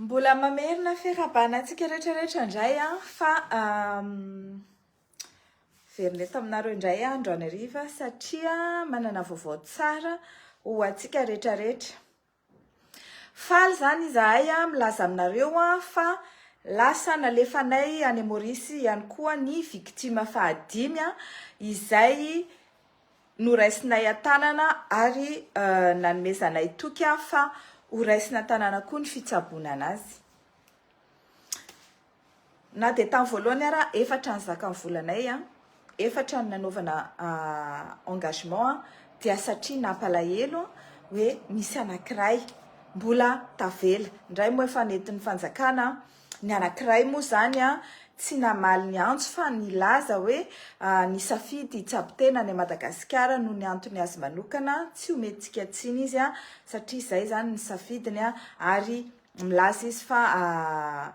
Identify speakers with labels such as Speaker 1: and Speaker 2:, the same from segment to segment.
Speaker 1: Mbola mamerina fiarahabana antsika rehetrarehetra indray an, fa verina eto aminareo indray andro anariva satria manana vaovao tsara ho antsika rehetrarehetra. Faly izany izahay milaza aminareo fa lasa nalefanay any Maurice ihany koa ny victime fahadimy izay noraisinay an-tanana ary nanomezanay toky fa horaisina an-tanana koa ny fitsaboana anazy. Na dia tamin'ny voalohany ara efatra ny zakan'ny volanay an, efatra ny nanaovana engagement an, dia satria nampalahelo an, hoe misy anankiray mbola tavela, indray moa efa nentin'ny fanjakana an, ny anankiray moa izany an, tsy namaly ny antso fa nilaza hoe nisafidy hitsabo tena any Madagasikara noho ny antony azy manokana, tsy homentsika tsiny izy an, satria izay izany ny safidiny an, ary Milaza izy fa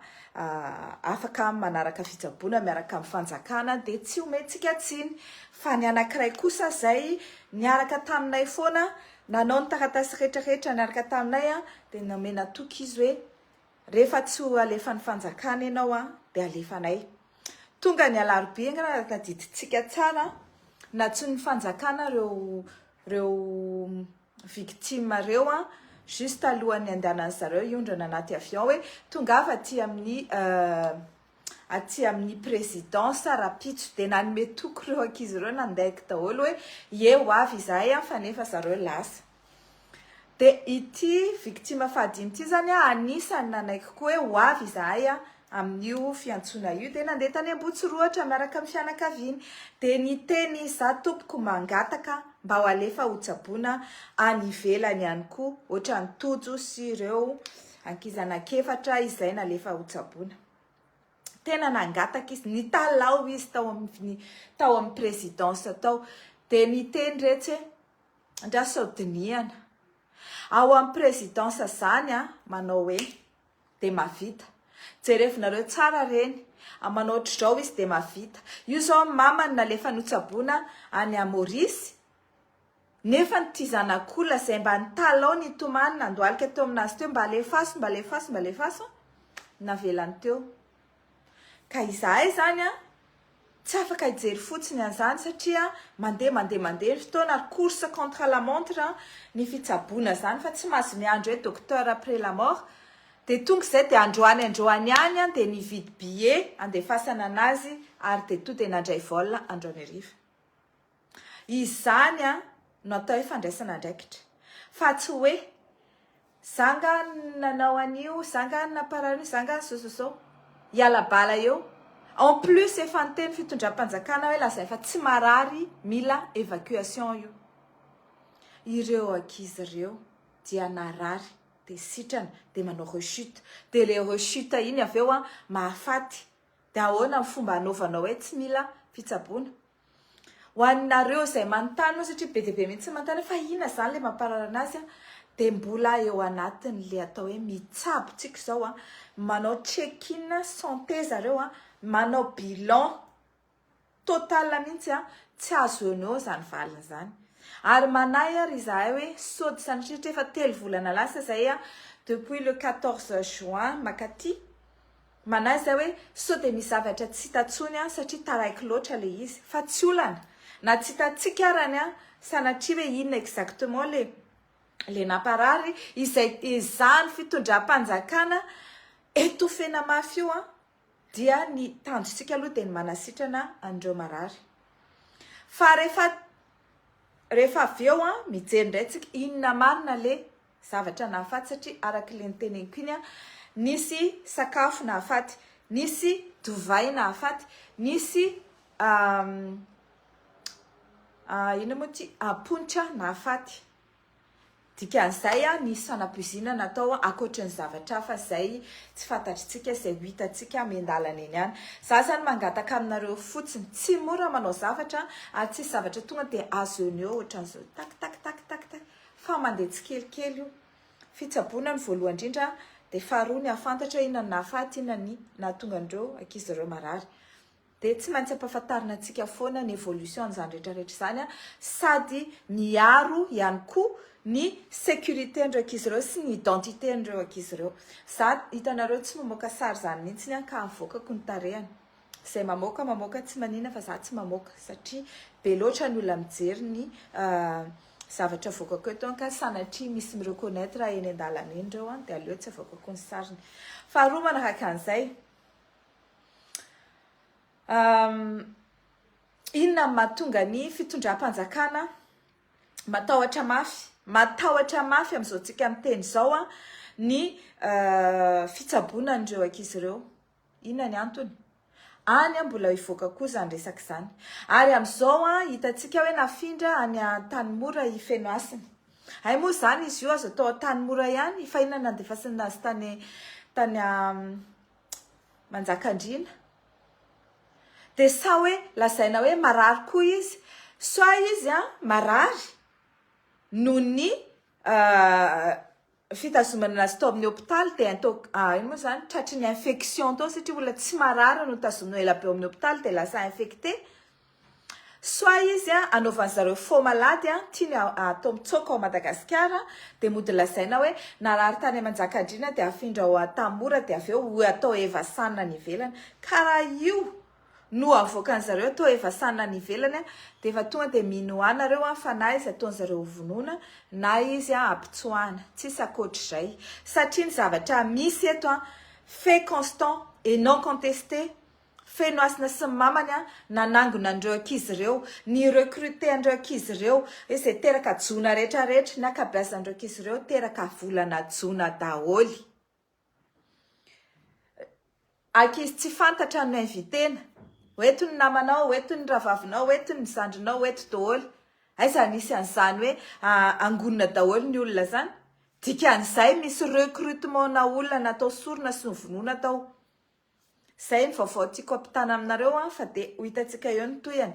Speaker 1: afaka manaraka fitsaboana miaraka amin'ny fanjakana dia tsy omentsika tsiny. Fa ny anankiray kosa izay niaraka taminay foana, nanao ny taratasy rehetra rehetra niaraka taminay an, dia nomena toky izy hoe rehefa tsy ho alefan'ny fanjakana ianao an, dia alefanay. Tonga ny alarobia, raha tadidintsika tsara, nantsoin'ny fanjakana ireo. reo victimes reo an, juste alohan'ny handehanan'ny zareo hiondrana anaty avion hoe tongava aty amin'ny aty amin'ny présidence rapitso dia nanome toky reo ankizy reo nandeha daholo hoe ie ho avy izahay an fa nefa zareo lasa dia ity victime fahadimy ity zany an anisany nanaiky koa hoe ho avy izahay an Amin'io fiantsoana io dia nandeha tany Ambohitsorohatra miaraka amin'ny fianakaviany dia niteny izaho tompoko mangataka mba ho alefa ho tsaboina any ivelany ihany koa ohatran'i Tojo sy ireo ankizy anankiefatra izay nalefa ho tsaboina. Tena nangataka izy, nitalaho izy tao amin'ny tao amin'ny présidence tao dia niteny retsy hoe ndraso dinihana. Ao amin'ny présidence zany a manao hoe dia mavita. Jerevo nareo tsara reny a manao otrzao izy dia mavita. Io zao ny mamany nalefa notsaboina any a Maurice nefa ny ty zanak'olona zay mba nitalaho nitomany nandoalika teo aminazy teo mba alefaso mba alefaso mba alefaso navelany teo. Ka izahay izany an, tsy afaka hijery fotsiny an'izany satria mandeha mandeha mandeha ny fotoana ary course contre la montre ny fitsaboana izany fa tsy mahazo miandry hoe docteur après la mort. Dia tonga izay dia androany androany ihany an dia nividy billet handefasana an'azy ary dia tonga dia nandray vol androany hariva. Izany no atao hoe fandraisana andraikitra. Fa tsy hoe, za nga no nanao an'io, za nga no namparary an'io, za nga zao zao zao. Hiala bala eo. En plus efa niteny fitondram-panjakana hoe lazainy fa tsy marary mila évacuation io. Ireo ankizy ireo dia narary, dia sitrana, dia manao rechute. Dia ilay rechute iny avy eo mahafaty. Dia ahoana ny fomba hanaovanao hoe tsy mila fitsaboana? Ho anareo izay manontany moa satria be dia be mihitsy manontany hoe fa inona izany ilay mampararana azy dia mbola eo anatin'ilay atao hoe mitsabo tsika izao, manao check in santé zareo, manao bilan total mihitsy an, tsy azo eo no eo izany valiny izany. Ary manahy ary izahay hoe sao dia sanatria efa telo volana lasa izay depuis le 14 juin makaty, Manahy izay hoe sao dia misy zavatra tsy hita tsony an satria taraiky loatra le izy fa tsy olana na tsy hitantsika arany an sanatria hoe inona exactement le le namparary izay ezahany fitondrampanjakana etofena mafy io an dia ny tanjontsika aloha dia ny manasitrana an'ireo marary fa rehefa rehefa avy eo an mijery indray tsika inona marina le zavatra nahafaty satria araka ilay noteneniko iny an, nisy sakafo nahafaty, nisy divay nahafaty, nisy inona moa ity amponitra nahafaty. Dikan'izay an, nisy fanapoizinana natao ankoatra ny zavatra hafa izay tsy fantatritsika, izay ho hitantsika eny an-dalana eny ihany. Izaho izany mangataka aminareo fotsiny, tsy mora manao zavatra ary tsy hisy zavatra tonga dia azo eo no eo ohatran'izao tak tak tak tak tak. Fa mandeha tsikelikely io. Fitsaboana no voalohany indrindra dia faharoa ny hahafantatra inona no nahafaty, inona ny nahatonga an'ireo ankizy ireo marary. Dia tsy maintsy ampahafantarina antsika foana ny évolution an'izany rehetra rehetra izany sady miaro ihany koa ny sécurité-n'ireo ankizy ireo sy ny identité-n'ireo ankizy ireo. Za hitanareo tsy mamoaka sary izany mihitsy aho ka avoakako ny tarehany. Zay mamoaka mamoaka tsy manina fa za tsy mamoaka satria be loatra ny olona mijery ny zavatra avoakako eto an ka sanatria misy mi reconnaître eny an-dalana eny reo an de aleo tsy avoakako ny sariny faharoa manaraka an'izay inona ny mahatonga ny fitondram-panjakana matahotra mafy matahotra mafy amin'izao tsika miteny izao an ny fitsaboana an'ireo ankizy ireo Inona ny antony? Any mbola hivoaka koa izany resaka izany. Ary amin'izao hitantsika hoe nafindra any Antanimora i Fenohasina. Hay moa izany izy io aza tao Antanimora ihany fa inona no nandefasana azy tany tany Manjakandriana? Dia sa hoe lazaina hoe marary koa izy? Soit izy marary noho ny fitazomana anazy tao amin'ny hopitaly dia tao ino moa izany tratry ny infection tao satria olona tsy marary no tazomina ela be ao amin'ny hopitaly dia lasa infecté soit izy a anaovan'ny zareo faux malady a tiany atao mitsoaka ao Madagasikara dia mody lazaina hoe narary tany aman-jakandriana dia afindra ao Antamora dia avy eo atao evasan any ivelany karaha io no avoakan'ny zareo toa efa sanona any ivelany a, dia efa tonga dia mino an nareo an fa na izy ataony zareo ho vonoina na izy an apitsoahana, tsisy akoatr'izay satria ny zavatra misy eto an fait constant et non contesté Fenohasina sy ny mamany an nanangona an'ireo ankizy ireo, ni recruter an'ireo ankizy ireo, izay teraka jona rehetra rehetra, ny ankabeazan'ireo ankizy ireo teraka volana jona daholo. Ankizy tsy fantatra no inviter-na. Ho eto ny namanao, ho eto ny rahavavinao, ho eto ny zandrinao, ho eto daholo. Aiza no hisy an'izany hoe angonina daholo ny olona izany? Dikan'izay misy recrutement-na olona natao sorona sy novonoina tao. Zay ny vaovao tiako ampitana aminareo an fa dia ho hitantsika eo ny tohiny.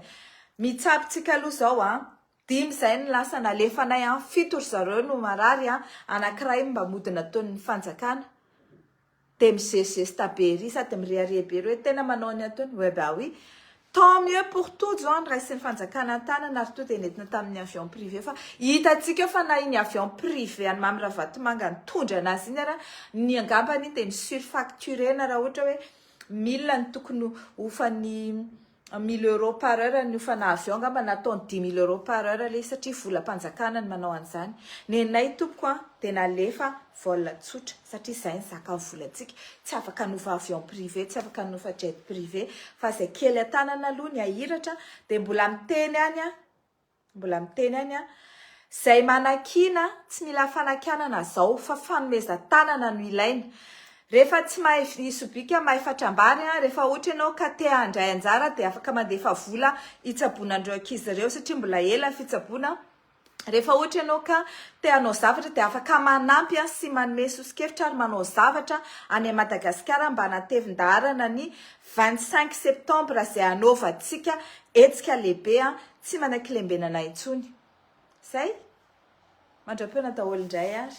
Speaker 1: Mitsabo tsika aloha zao an. Dimy zay no lasa nalefanay an, fito ry zareo no marary an, anakiray mba mody nataon'ny fanjakana. Dia mizesizesta be ery sady mirehareha be ery hoe tena manao ny ataony, eh bah oui. Tant mieux pour Tojo an, raisin'ny fanjakana an-tanana ary toa dia nentina tamin'ny avion privé fa hitantsika eo fa na iny avion privé an'i Mamy Ravatomanga nitondra anazy iny ara ny angamba anie dia ny surfacturena raha ohatra hoe mille ny tokony hofan'ny mille euros par heure ny hofana avion angamba nataony dix mille euros par heure le satria volam-panjakana ny manao an'izany. Nenay tompoko an, dia nalefa Vol tsotra, satria izay ny zaka ny volantsika, tsy afaka hanofa avion privé, tsy afaka hanofa jet privé, fa izay kely an-tanana aloha ny hahiratra, dia mbola miteny ihany aho, mbola miteny ihany aho, izay manakiana tsy mila fanakianana izao fa fanomezan-tanana no ilaina, rehefa tsy mahay vy sobika mahay fatrambary an, rehefa ohatra ianao ka te handray anjara dia afaka mandefa vola hitsaboana an'ireo ankizy ireo satria mbola ela ny fitsaboana, Rehefa ohatra ianao ka te hanao zavatra dia afaka manampy sy manome sosokevitra ary manao zavatra any Madagasikara mba hanatevin-daharana ny vingt cinq septembre izay hanaovantsika hetsika lehibe tsy manan-kilembenana intsony. Izay. Mandra-poana daholo indray ary.